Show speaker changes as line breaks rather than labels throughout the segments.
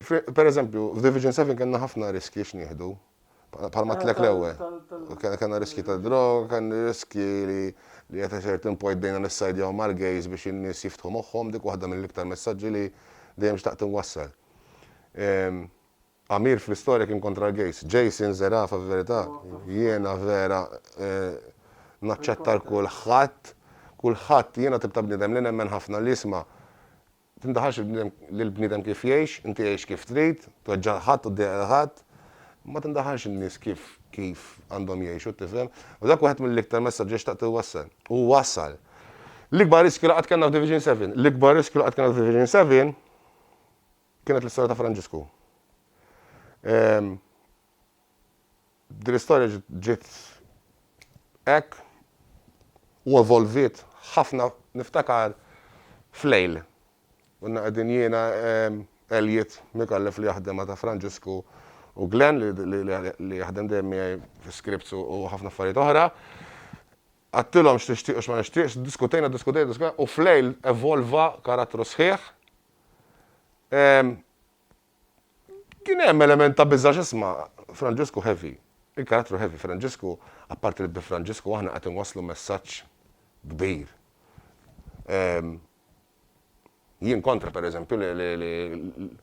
Per eżempju, f'Division 7 kellna ħafna riskji x'nieħdu. Palma ah, tlek l-ewwel. Kellna riskji ta' droga, kellna riskji li li qed iċert impojt bdejna nissajdjaw mal-gejs biex in-nies jiftħu moħħhom dik waħda mill-iktar messaġġi li dejjem xtaqt inwassal. Ehm, Amir fl-istorja kien kontra l-gays. Jason Zerafa fil-verità jiena vera naċċetta l kulħadd kulħadd jiena tip ta' bniedem li nemmen ħafna li isma' tindaħalx il-bniedem lil bniedem kif jgħix inti għix kif trid tweġġa' lil ħadd u ddeqq lil ħadd ma tindaħalx in-nies kif kif għandhom jgħixu tifhem u dak wieħed mill-iktar messaġġi li xtaqt inwassal u wasal l-ikbar riskju li qatt kellna f'Division Seven l-ikbar riskju li qatt kellna f'Division Seven Kienet l-istorja ta' Franġisku. Ehm, din l-istorja ġiet hekk u evolviet ħafna niftakar f'lejl. Konna qegħdin jiena, ehm, Elliot Micallef li jaħdem ma' ta' Franġisku u Glenn li jaħdem dejjem miegħi fi scripts u ħafna affarijiet oħra. Għattilhom x'nixtieq u x'ma nixtieqx, diskutejna, diskutejna, diskutejna u f'lejl evolva karattru sħiħ. Ehm, kien hemm element ta' biża' x'isma' Franġisku heavy. Il-karattru heavy Franġisku, apparti li bi Franġisku aħna qed inwasslu messaġġ kbir. Ehm, jien kontra pereżempju li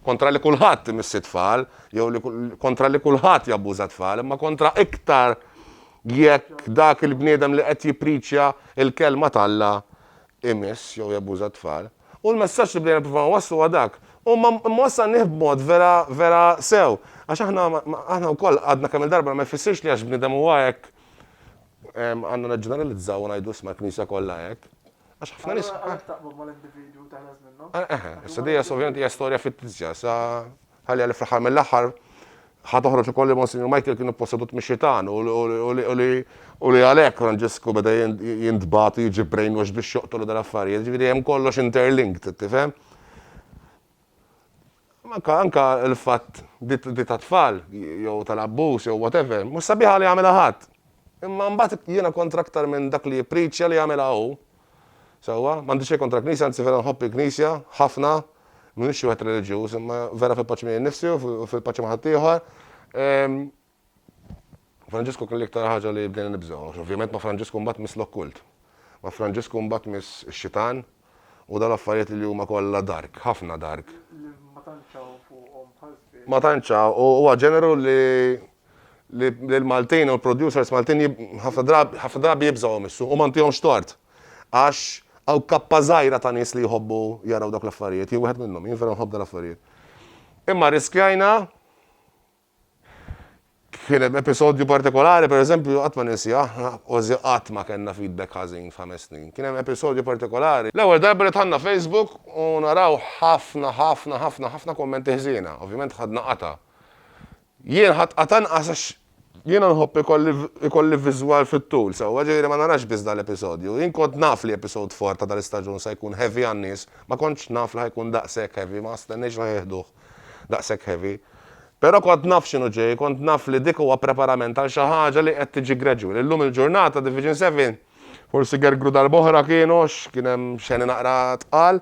kontra li kulħadd imissi tfal jew li kontra li kulħadd jabbuża tfal, imma kontra iktar jekk dak il-bniedem li qed jippriċja l-kelma t'Alla imiss jew jabbuża t-tfal. U l-messaġġ li bdejna nippruvaw inwasslu huwa dak. U ma wassalnieh b'mod vera, vera sew. Għax aħna, aħna wkoll għadna kemm-il darba, ma jfissirx li għax bniedem huwa hekk, għandna neġġeneralizzaw u ngħidu isma' l-Knisja kollha hekk. Għax ħafna nies. Allura għalhekk taqbad mal-individwu
u teħles minnu. Eħe, issa dejja
ovvjament hija storja fittizja, sa Ħalliha li fl-aħħar mill-aħħar ħa toħroġ ukoll li Monsinjur Michael kien ippossedut mix-xitan u li għalhekk Franġisku beda jintbagħat u jiġi brainwashed biex joqtol u dal-affarijiet. Jiġifieri hemm kollox interlinked, tifhem? Anke anke l-fatt di tat-tfal jew tal-abbuż jew whatever, mhux sabiħa li jagħmilha ħadd. Imma mbagħad jiena kont aktar minn dak li jippriċċja li jagħmilha hu. Sewwa, m'għandi xejn kontra l-Knisja, anzi vera nħobb il-Knisja ħafna, m'iniex xi wieħed reliġjuż, imma vera fil-paċi miegħi nnifsi u fil-paċi ma' ħaddieħor. Franġisku kien l-iktar ħaġa li bdejna nibżgħu, għax ovvjament ma' Franġisku mbagħad tmiss l-okkult. Ma' Franġisku mbagħad tmiss ix-xitan u dawn l-affarijiet li huma kollha dark, ħafna dark. Li ma tantx hawn fuqhom bħal żbierek. Ma tantx hawn, u huwa ġeneru li li l-Maltin u l-producers Maltin ħafna drabi, ħafna drabi jibżgħuhom is-suq u ma ntihomx tort. Għax hawn kappa żgħira ta' nies li jħobbu jaraw dawk l-affarijiet, jien wieħed minnhom, jien vera nħobb dal-affarijiet. Imma rriskjajna, kien hemm episodju partikolari pereżempju qatt ma ninsieh, kważi qatt ma kellna feedback ħażin f'ħames snin. Kien hemm episodju partikolari, l-ewwel darba li dħalna Facebook u naraw ħafna, ħafna, ħafna, ħafna kummenti ħżiena, ovvjament ħadna qatgħa. Jien ħadd qatt' anqas għax jiena nħobb ikolli viżwal fit-tul sewwa, ġifieri ma narax biss dal-episodju. Jien kont naf li episode four ta' dal-istaġun sa jkun heavy għan-nies, ma kontx naf li ħa jkun daqshekk heavy, ma stennejtx li ħa jieħduh daqshekk heavy. Però kont naf x'inhu ġej, kont naf li dik huwa preparament għal xi ħaġa li qed tiġi gradual. Illum il-ġurnata Division Seven forsi gergru darb'oħra kienu għax kien hemm xeni naqra tqal.